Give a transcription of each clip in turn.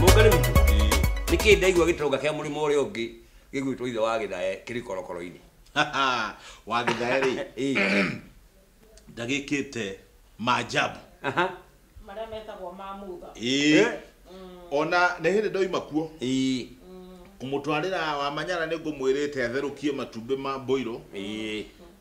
Mũngarĩ witũ. Nĩ kĩĩ ndaigua gĩtonga kĩa mũrĩmo ũrĩa ũngĩ gĩgwĩtwo ithe wa gĩthae kĩrĩ korokoro-inĩ. wa gĩthae rĩ ndagĩkĩte maajabu Aha. Marĩa metagwo ma mutha. ĩĩ Eh? ona nĩ hĩndĩ ndoima kuo Ĩĩ. kũmũtwarĩra wamanyara nĩ ngũmwĩrĩte atherũkie matumbĩ ma mbũirũ Ĩĩ.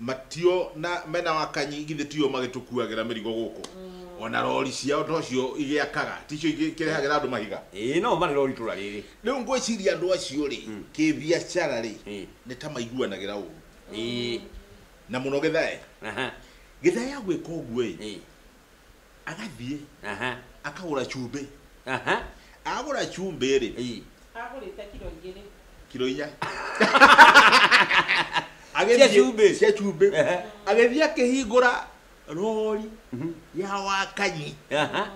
Matio na mena wakanyi githĩ tio magĩtũkuagĩra mĩrigo gũkũ ona rori ciao tocio igĩakaga ticio ikĩrehagĩra andũ mahiga ĩĩ no marĩ rori itũra rĩrĩ rĩu ngwĩciria andũ acio rĩ Mm. kĩbiacara rĩ Ĩĩ. nĩ ta maiguanagĩra ũru ĩĩ na mũno gĩthae aha gĩthae ya gwĩka ũguo ĩ ĩĩ agathiĩ aha akagũra cumbĩ aha agũra cumbĩ rĩ ii agũrĩte kiro igĩrĩ kiro inya Cia cumbĩ. cia cumbĩ Ehe. agĩthiĩ akĩhingũra rori ya wakanyi aha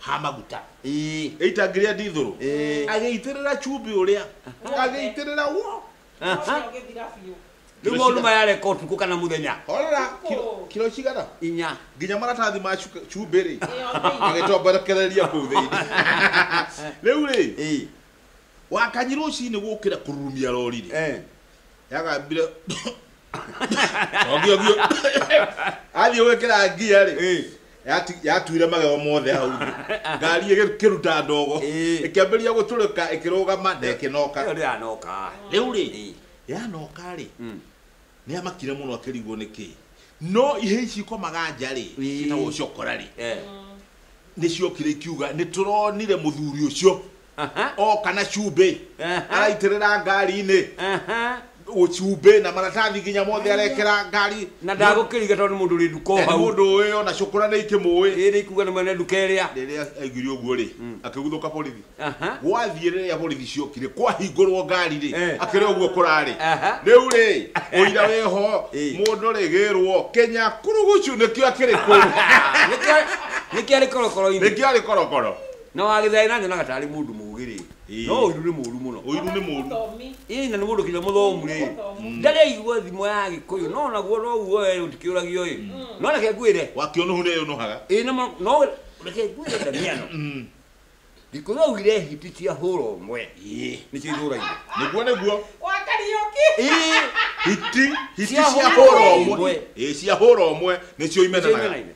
ha maguta ii ĩitangĩria ndithũrũ Ĩĩ. agĩitĩrĩra cumbĩ ũrĩa agĩitĩrĩra wo rä u maå ma yarä kotukå kana må thenya horera kilo- kilo cigana inya nginya maratathi ma cuka- cumbĩ rĩ magĩtomberekereria kũu thĩinĩ rĩu rĩ Ĩĩ. wakanyi rũcinĩ gũkĩra kũrurumia rori rĩ Eh. yagambire ogio ogio athiĩ gwĩkĩra ngia rĩ Eh. yati- yatuire magego mothe hau thĩ. ngari ĩkĩruta ndogo Eh. ĩkĩambĩrĩria gũtũrĩka ĩkĩrũgama na ĩkĩnoka Ĩyo ndĩranoka. rĩu rĩ Eh. yanoka rĩ Mm. nä amakire må no akärigwo nä kä no ihä ici ikomaga nja rä Ĩĩ. citagwo ciokora rä Eh. nä ciokire ikiuga nä tå ronire må thuri å cio Aha, oka na cumbĩ Aha. araitĩrĩra ngari-inĩ aha. cumbĩ na maratathi nginya mothe arekera ngari na ndagũkĩriga tondũ nĩ mũndũ ũrĩ nduka o na nĩ hau mũndũ ũĩ ona cũkũra nĩ ikĩmũĩ ĩrĩ ikuga nĩ mwene nduka ĩrĩa rĩrĩa aiguire ũguo rĩ akĩguthũka borithi Aha. gwathiĩ rĩrĩa borithi ciokire kwahingũrwo ngari rĩ Eh. akĩrĩ ũguo kũrarĩ Aha. rĩu rĩ ũira wĩho Eh. mũndũ rĩgĩrwo kenya kurugucu nĩkĩo akĩrĩ kũu Nĩkĩo- nĩkĩo arĩ korokoro-inĩ nĩkĩo arĩ korokoro Na wa Gĩthai na nyonaga tarĩ mũndũ mũũgĩ rĩ, Ĩĩ. no ũiru nĩ mũũru mũno. Ũiru nĩ mũũru. Mũthomi. Ĩĩ na nĩ mũndũ kinya mũthomu rĩ, Mũthomu. ndarĩ aigua thimo ya Gĩkũyũ, no naguo noguo we ũtikĩũragio ĩ, no reke ngwĩre, Wakĩona ũũ nĩeyũnũhaga. ĩĩ nĩ ma, no reke ngwĩre Ndamiano, Mm. Gĩkũyũ augire hiti cia hũra ũmwe Ĩĩ. nĩcio ithũraire. Nĩguo nĩguo. Wa Kariũki. Ĩĩ. Hiti, hiti Cia cia hũra hũra ũmwe. ũmwe. Ĩĩ cia hũra ũmwe nĩcio Nĩcio imenanaga. imenanaga.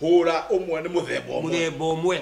Hũra ũmwe nĩ mũthemba ũmwe. Mũthemba ũmwe.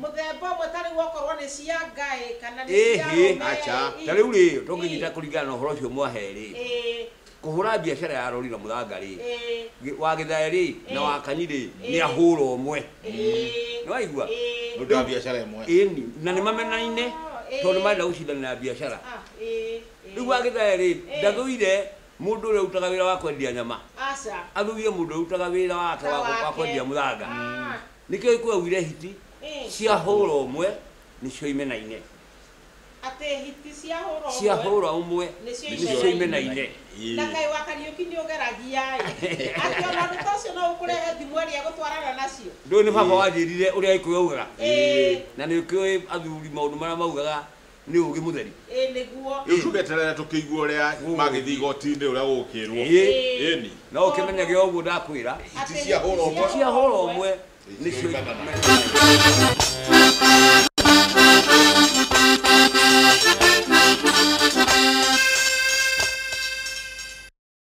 Mũthemba ũmwe ta rĩu okorwo nĩ cia ngaĩ kana nĩ cia Ĩhĩ. ũme, Aca. ĩ. Ta rĩu rĩ, Ĩ. tũngĩnyita kũringana na ũhoro ũcio mwahe rĩ, Ĩ. kũhũra biacara ya rori na mũthanga rĩ, Ĩ. gĩ- wa gĩthae rĩ, na Ĩ. wa kani rĩ, Ĩ. nĩ ahũra ũmwe. Ĩ. Nĩwaigua? Ĩ. Nĩũndũ wa biacara ĩmwe. Ĩni. Na nĩ mamenaine, Oh, ĩ. tondũ nĩ marenda gũcindana na biacara. Ah, ĩ, ĩ. Rĩu wa gĩthae rĩ, Ĩ. ndathũire Mũndũ ũrĩa ũrutaga wĩra wa kwendia nyama Aca. athurire mũndũ ũrĩa ũrutaga wĩra wake Ta wa wa wake. kwendia mũthanga. Ah. Nĩkĩo gĩkũyũ augire hiti Ĩ. ciahũra ũmwe nĩcio imenaine. Atĩ hiti ciahũra ũmwe. Ciahũra ũmwe Nĩcio nĩcio imenaine. imenaine. Na kaĩ wa Kariũki nĩ ũgeragia-ĩ. Atĩ ona ũndũ ta ũcio no ũkũrehe thimweri egũtwarana nacio. Ndũĩ nĩ baba wanjĩrire ũrĩa gĩkũyũ augaga? Ĩ. Na nĩũkĩũĩ athuri maũndũ marĩa maugaga Nĩ ũũgĩ mũtheri. Ĩĩ nĩguo. Rĩu tũgeterere tũkĩigue ũrĩa magĩthiĩ igoti-inĩ ũrĩa gũgũkĩrwo. Ĩĩ. Ĩĩni. No ũkĩmenyage ũguo ndakwĩra. Hiti cia hũra ũmwe. Hiti cia hũra ũmwe nĩcio imenyagĩrĩrwo.